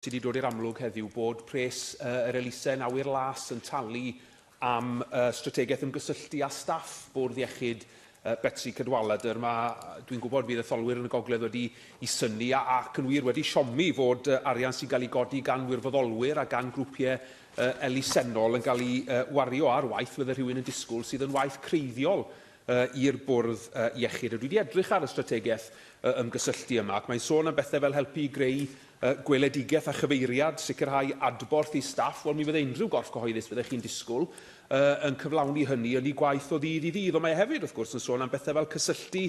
Sy wedi dod i'r amlwg heddiw bod pres yr elusen awyr las yn talu am strategaeth ymgysylltu â staff bwrdd iechyd Betsi Cadwaladr. Mae, dwi'n gwybod, bydd etholwyr yn y gogledd wedi i synnu ac yn wir wedi siomi fod arian sy'n cael ei godi gan wirfoddolwyr a gan grwpiau elusennol yn cael ei wario ar waith fydde rhywun yn disgwyl sydd yn waith creiddiol i'r bwrdd iechyd. A dwi wedi edrych ar y strategaeth ymgysylltu yma ac mae'n sôn am bethau fel helpu i greu y gweledigaeth a chyfeiriad, sicrhau adborth i staff, wel mi fydde unrhyw gorff cyhoeddus, fyddech chi'n disgwyl, yn cyflawni hynny yn ei gwaith o ddydd i ddydd, ond mae e hefyd, wrth gwrs, yn sôn am bethau fel cysylltu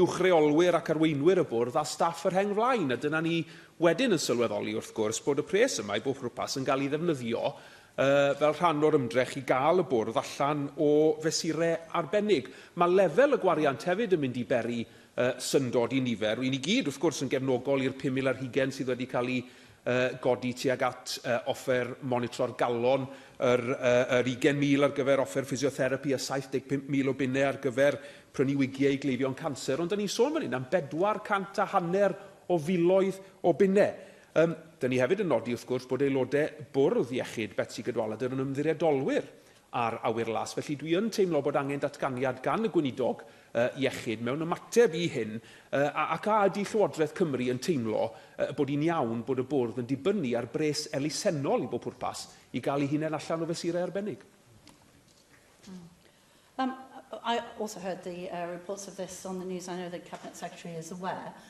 uwch reolwyr ac arweinwyr y bwrdd â staff y rheng flaen, a dyna ni wedyn yn sylweddoli, wrth gwrs, bod y pres yma, i bob pwrpas, yn cael ei ddefnyddio fel rhan o'r ymdrech i gael y bwrdd allan o fesurau arbennig. Mae lefel y gwariant hefyd yn mynd i beri y syndod i nifer, ry'n ni gyd wrth gwrs yn gefnogol i'r 5,000 ar hugain sydd wedi cael eu godi tuag at offer monitro'r galon, yr yr 20,000 ar gyfer offer ffisiotherapi a 75,000 o bunnau ar gyfer prynu wigiau i gleifion canser, ond 'dan ni'n sôn fan hyn am bedwar cant a hanner o filoedd o bunnau. Yym, 'dan ni hefyd yn nodi wrth gwrs bod aelodau Bwrdd Iechyd Betsi Cadwaladr yn ymddiriedolwyr a'r awyr las. Felly, dwi yn teimlo bod angen datganiad gan y Gweinidog iechyd mewn ymateb i hyn, ac a ydy Llywodraeth Cymru yn teimlo bod hi'n iawn bod y Bwrdd yn dibynnu ar bres elusennol i bob pwrpas i gael ei hunain allan o fesurau arbennig? Um, I also heard the uh, reports of this on the news. I know the Cabinet Secretary is aware.